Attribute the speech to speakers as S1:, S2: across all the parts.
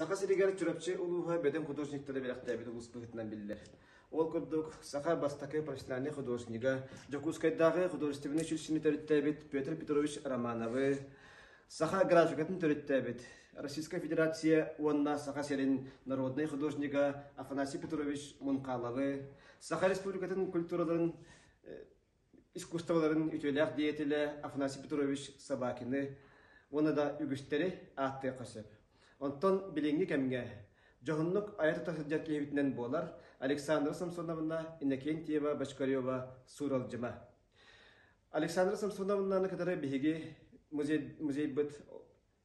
S1: Саха сиригэр Чурапчы улууһа бөдөҥ художниктара бэлэхтээбит улус быһыытынан биллэр. Ол курдук, саха бастакы профессиональнай художнига, Дьокуускайдааҕы художественнай училищены төрүттээбит Петр Петрович Романовы, саха графикатын төрүттээбит Российская Федерация уонна Саха сирин народнай художнига Афанасий Петрович Мунхаловы, Саха Республикатын культураларын искусстволарын үтүөлээх деятелэ Афанасий Петрович Собакины уонна да үгүстэри ааттыахха сөп. Онтон билиҥҥи кэмҥэ дьоһуннук айа тута сылдьар киһибитинэн буолар Александра Самсоновна Иннокентьева Бочкарева сууралдьыма. Александра Самсоновнаны кытары биһиги музей, музейбыт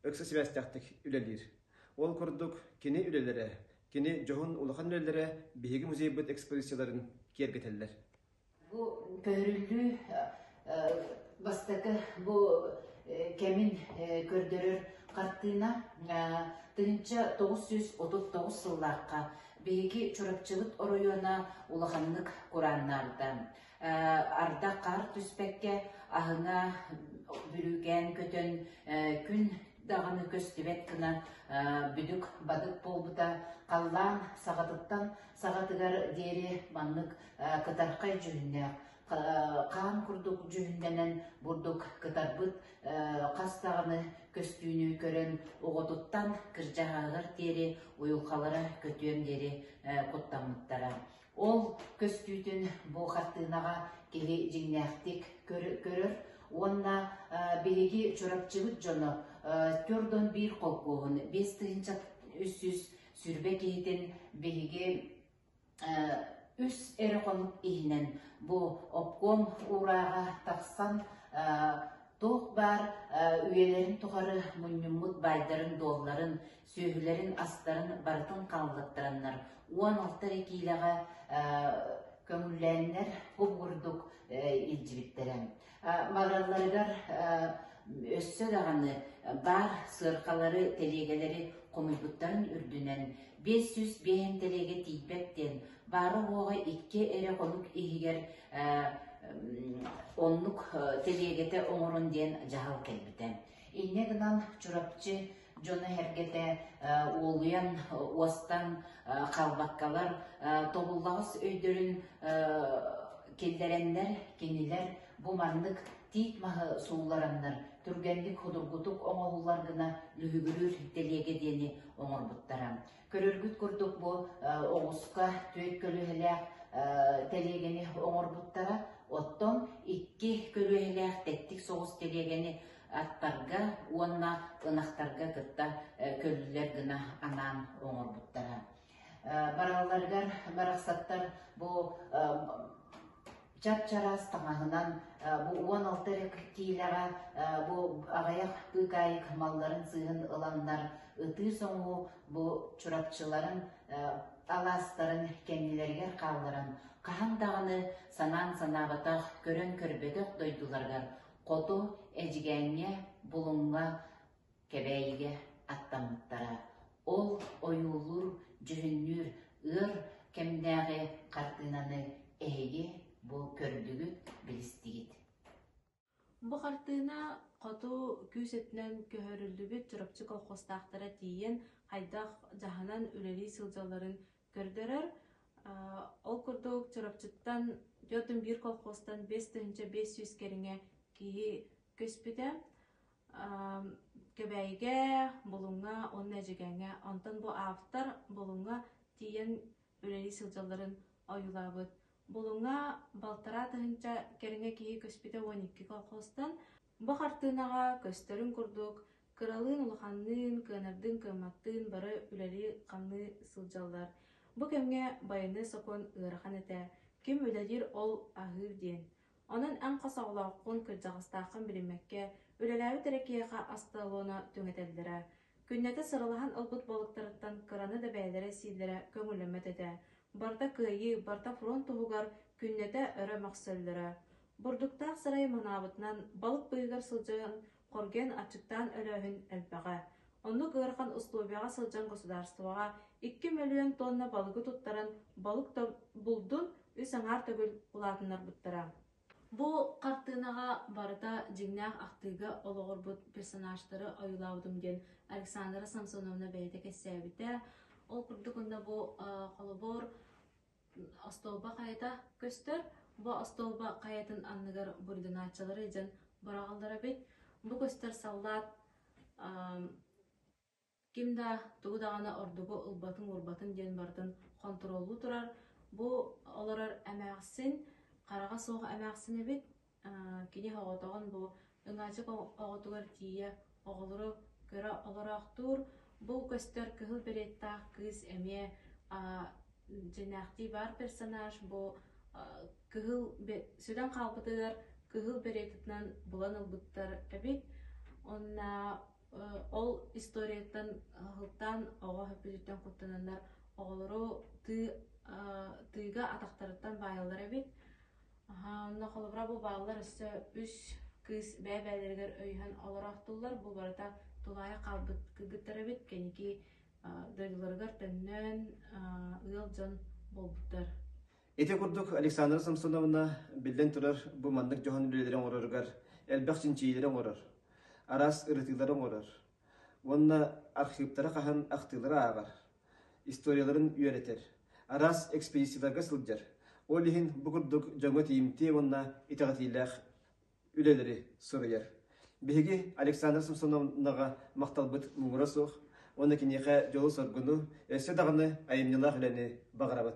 S1: ыкса сибээстээхтик үлэлиир. Ол курдук кини үлэлэрэ, кини дьоһун улахан үлэлэрэ биһиги музейбыт экспозицияларын киэргэтэллэр. Бу
S2: көһөрүллүү бастакы бу кэмин көрдөрөр хартыына тыһыынча тоҕус сүүс отут тоҕус сыллаахха биһиги Чурапчыбыт оройуона улаханнык курааннаабыта. Ардах хаар түспэккэ аһыҥа бүрүүкээн көтөн күн даҕаны көстүбэт гына бүдүк бадык буолбута халлаан саҕатыттан саҕатыгар диэри маннык кытархай дьүһүннээх хаан курдук дьүһүннэнэн бурдук кытарбыт хас даҕаны көстүүнү көрөн оҕотуттан кырдьаҕаһыгар диэри уйулҕалара көтүөн диэри куттаммыттара Ол көстүүтүн бу хартыынаҕа киһи дьиҥнээхтик көрөр уонна биһиги Чурапчыбыт дьоно төрт уон биир холкуоһун биэс тыһыынча сүүс сүүрбэ киһитин биһиги үс эрэ хонук иһинэн бу обком уурааҕа тахсан туох баар үйэлэрин тухары мунньуммут баайдарын дуолларын сүөһүлэрин астарын барытын хааллыттараннар уон алта эрэ киилэҕэ көҥүллээннэр куп курдук илдьибиттэрэ баралларыгар өссө даҕаны баар сыаркалары тэлиэгэлэри хомуйбуттарын үрдүнэн биэс сүүс биэһин тэлиэгэ тиийбэт диэн баара-буоҕа икки эрэ хонук иһигэр оннук тэлиэгэтэ оҥорон диэн дьаһал кэлбитэ инньэ гынан Чурапчы дьоно-сэргэтэ уолуйан, уостан халбаккалар тобуллаҕас өйдөрүн киллэрэннэр, кинилэр бу маннык тиит маһы сууллараннар түргэнник худургутук оҥоһуллар гына лүһүгүрүүр тэлиэгэ диэни оҥорбуттара. Көрөргүт курдук бу оҕуска түөрт көлүөһэлээх тэлиэгэни оҥорбуттара. Оттон икки көлүөһэлээх тэттик соҕус тэлиэгэни аттарга уонна ынахтарга кытта көллүлэр гына анаан оҥорбуттара. Баралларыгар барахсаттар бу чап-чараас таҥаһынан бу уон алта эрэ киртиилэҕэ бу аҕыйах быыкаайык малларын сыыһын ыланнар ытыы-соҥуу бу чурапчыларын алаастарын кэннилэригэр хаалларан хаһан даҕаны санаан санаабатах көрөн көрбөтөх дойдуларыгар хоту эдьигээҥҥэ булуҥҥа Кэбээйигэ аттаммыттара. Ол ойуулуур-дьүһүннүүр ыар кэмнээҕи хартыынаны эһиги бу көрдүгүт, билистигит.
S3: Бу хартыына хоту күүс өттүнэн көһөрүллүбүт Чурапчы колхозтаахтара тиийэн хайдах дьаһанан үлэлии сылдьалларын көрдөрөр. Ол курдук Чурапчыттан түөрт биир колхозтан бэс тыһыынча бэс сүүс кэриҥэ киһи көспүтэ. Кэбээйигэ, Булуҥҥа уонна Эдьигээҥҥэ, онтон бу автор Булуҥҥа тиийэн үлэлии сылдьалларын ойуулаабыт. Булуҥҥа балтараа тыһыынча кэриҥэ киһи көспүтэ уон икки колхозтан. Бу хартыынаҕа көстөрүн курдук, кыралыын улаханныын, кыанардыын-кыамматтыын бары үлэлии-хамныы сылдьаллар. Бу кэмҥэ байыаннай сокуон ыарахан этэ, ким үлэлиир ол аһыыр диэн. Онон эн хос оҕолооххун, кырдьаҕастааххын билиммэккэ, үлэлээбит эрэ киһиэхэ астыалона түҥэтэллэрэ. Күннэтэ сыралаһан ылбыт буолуктарыттан кыраны да бэйэлэрэ-сииллэрэ көҥүллэммэт этэ. Барыта кыайыы, барыта фронт туһугар күннэтэ өрө мөхсөллөрө. Бурдуктаах сарай манаабытынан балык быыһыгар сылдьан, Хоргэн аччыктаан өрөөһүн элбэҕэ. Оннук ыарахан условияҕа сылдьан государствоҕа икки мөлүйүөн туонна балыгы туттаран балык булдун үс аҥаар төгүл улаатыннарбыттара. Бу хартыынаҕа барыта дьиҥнээх ахтыыга олоҕурбут персонажтары ойуулаабытым диэн Александра Самсоновна бэйэтэ кэпсээбитэ. Ол курдук онно бу холобур Остуолба хайата көстөр, бу остуолба хайатын анныгар бурдунааччылары дьон быраҕаллар эбит. Бу көстөр саллаат ким да тугу даҕаны ордугу ылбатын-уурбатын диэн барытын хонтуруоллуу турар. Бу олорор эмээхсин хараҕа суох эмээхсин эбит. Кини оҕотоҕун бу ыҥаачык оҕотугар тиийэ оҕолору кыра олороохтуур. Бу көстөр кыһыл береттаах кыыс эмиэ дьиҥнээхтии баар персонаж бу кыһыл сүрүн хаалбытыгар кыһыл беретатынан булан ылбыттар эбит. Уонна ол историятын сылтаан оҕо бүдүрүттэн куттананнар оҕолору тыы тыыга атахтарыттан баайаллар эбит. Аһаа, онно холобура бу бааллар өссө үс кыыс бэйэ-бэйэлэригэр өйөһөн олороохтууллар. Бу барыта тулаайах хаалбыт кыргыттар эбит. Кэнники дойдуларыгар төннөн, ыал дьон буолбуттар. Ити
S1: курдук Александра Самсоновна, биллэн турар, бу маннык дьоһун үлэлэри оҥороругар элбэх чинчийиилэри оҥорор, араас ырытыылары оҥорор. Уонна архыыптара хаһан ахтыылара ааҕар. историяларын үөрэтэр, араас экспедицияларга сылдьар, ол иһин бу курдук дьоҥҥо тиийимтиэ уонна итэҕэтиилээх үлэлэри суруйар. Биһиги Александра Самсоновнаҕа махталбыт муҥура суох уонна киниэхэ дьолу-соргуну, өссө даҕаны айымньылаах үлэни баҕарабыт.